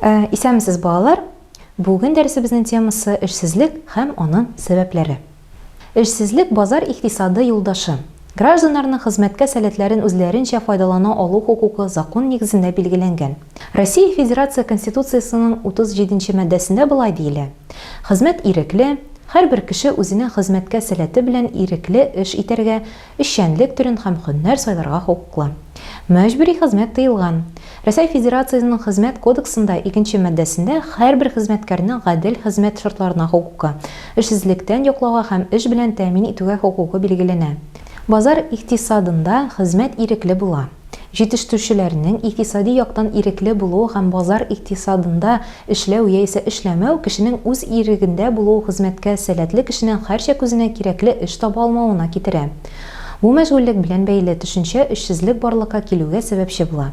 Ә, исәнмесез, балалар! Бүген дәресебезнең темасы, эшсезлек һәм аның сәбәпләре. Эшсезлек, базар икътисады юлдашы. Гражданнарның хезмәткә сәләтләрен үзләренчә файдалана алу хокукы закон нигезендә билгеләнгән. Россия Федерация Конституциясенең 37 нче маддәсендә болай диелә, Хезмәт ирекле, һәрбер кеше үзенең хезмәткә сәләте белән ирекле эш итәргә, эшчәнлек төрен һәм һөнәр сайларга хокуклы. Мәҗбүри хезмәт тыелган. Рәсәй Федерациясенең Хезмәт кодексында икенче маддәсендә һәрбер хезмәткәрнең гадел хезмәт шартларына хокукы, эшсезлектән яклауга һәм эш белән тәэмин итүгә хокукы билгеләнә. Базар икътисадында хезмәт ирекле була. Җитештерүчеләрнең икътисади яктан ирекле булу һәм базар икътисадында эшләү яисә эшләмәү, кешенең үз ирегендә булуы хезмәткә сәләтле кешенең һәрчак үзенә кирәкле эш таба алмавына китерә. Бу мәшгульлек белән бәйле төшенчә эшсезлек барлыкка килүгә сәбәпче була.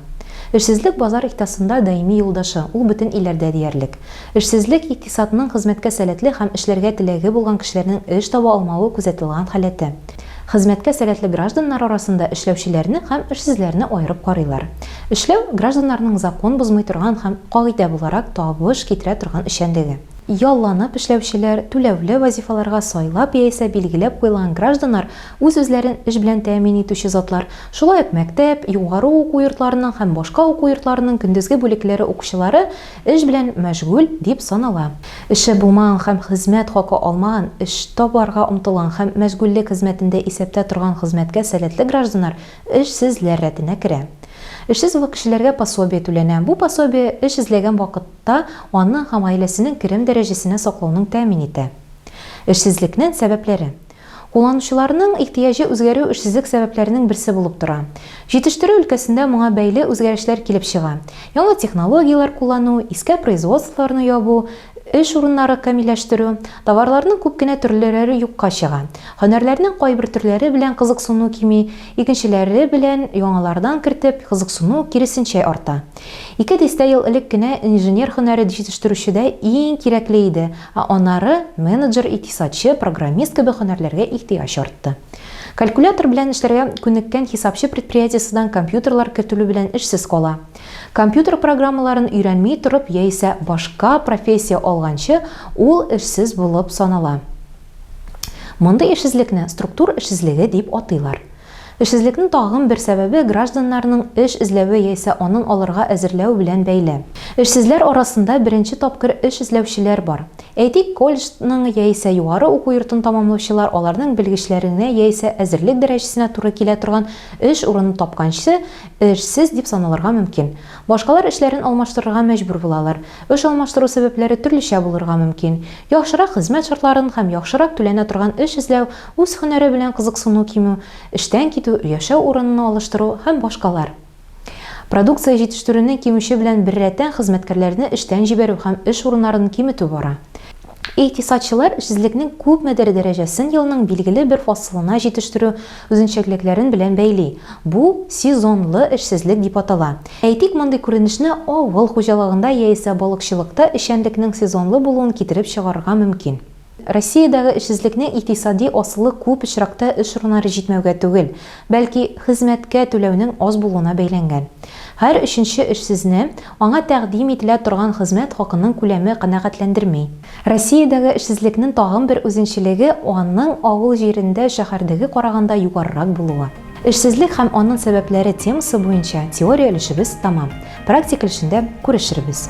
Эшсезлек базар икътисасында даими юлдашы, ул бөтен илләрдә диярлек. Эшсезлек икътисадның хезмәткә сәләтле һәм эшләргә теләге булган кешеләрнең эш таба алмавы күзәтелган халәте. Хезмәткә сәләтле гражданнар арасында эшләүчеләрне һәм эшсезләрне аерып карыйлар. Эшләү, гражданнарның закон бозмый торган һәм кагыйдә буларак табыш китерә торган эшчәнлеге. Ялланып эшләүчеләр, түләүле вазифаларга сайлап яисә билгеләп куелган гражданнар, үз-үзләрен эш белән тәэмин итүче затлар, шулай ук мәктәп, югары уку йортларының һәм башка уку йортларының көндезге бүлекләре укучылары, Эш белән мәшгуль дип санала. Эше булмаган һәм хезмәт хакы алмаган, эш табарга омтылган һәм мәшгульлек хезмәтендә исәптә торган хезмәткә сәләтле гражданнар эшсезләр рәтенә керә. Эшсез кешеләргә пособие түләнә. Бу пособие эш эзләгән вакытта аның һәм гаиләсенең керем дәрәҗәсенә саклауның тәэмин итә. Эшсезлекнен сәбәпләре. Кулланучыларның ихтыяҗы үзгәрү эшсезлек сәбәпләренең берсе булып тора. Җитештерү өлкәсендә моңа бәйле үзгәрешләр килеп чыга. Яңа технологияләр куллану, искә производстволарны ябу, эш урыннары камилләштерү, товарларның күп кенә төрлеләре юкка чыга. Һөнәрләрнең кайбер төрләре белән кызыксыну кими, икенчеләре белән яңалардан кертеп, кызыксыну, киресенчә, арта. Ике дистә ел элек кенә инженер һөнәре җитештерүчедә иң кирәкле иде, Ә аннары менеджер, икътисадчы, программист кебек һөнәрләргә ихтыяҗ артты. Калькулятор белән эшләргә күнеккән хисапчы предприятиесыдан компьютерлар кертелү белән эшсез кала. Компьютер программаларын өйрәнми торып яисә башка профессия алганчы ул эшсез булып санала. Мондый эшсезлекне структур эшсезлеге дип атыйлар. Эшсезлекнең тагын бер сәбәбе гражданнарның эш эзләве яисә аның алырга әзерләү белән бәйле. Эшсезләр арасында беренче тапкыр эш эзләүчеләр бар. Әйтик, колледжның яисә югары уку йортын тәмамлаучылар аларның белгечләренә яисә әзерлек дәрәҗәсенә туры килә торган эш урынын тапканчы эшсез дип саналырга мөмкин. Башкалар эшләрен алмаштырырга мәҗбүр булалар. Эш алмаштыру сәбәпләре төрлечә булырга мөмкин. Яхшырак хезмәт шартларын һәм яхшырак түләнә торган эш эзләү Үз һөнәре белән кызыксыну кимү, эштән китү, яшәү урынын алыштыру һәм башкалар. Продукция җитештерүне кимүче белән беррәттән хезмәткәрләрне эштән җибәрү һәм эш урыннарын киметү бара. Икътисадчылар эшсезлекнең күпмедер дәрәҗәсен елның билгеле бер фасылына җитештерү үзенчәлекләрен белән бәйли, бу сезонлы эшсезлек дип атала. Әйтик, мондый күренешне авыл хуҗалыгында яисә балыкчылыкта эшчәнлекнең сезонлы булуын китереп чыгарырга мөмкин. Россиядәге эшсезлекнең икътисади асылы күп очракта эш урыннары җитмәүгә түгел, бәлки, хезмәткә түләүнең аз булуына бәйләнгән. Һәр өченче эшсезне аңа тәкъдим ителә торган хезмәт хакының күләме канәгатьләндерми. Россиядәге эшсезлекнең тагын бер үзенчелеге, аның авыл җирендә шәһәрдәге караганда югарырак булуы. Эшсезлек һәм аның сәбәпләре темасы буенча теория өлешебез тәмам. Практик эшендә күрешербез.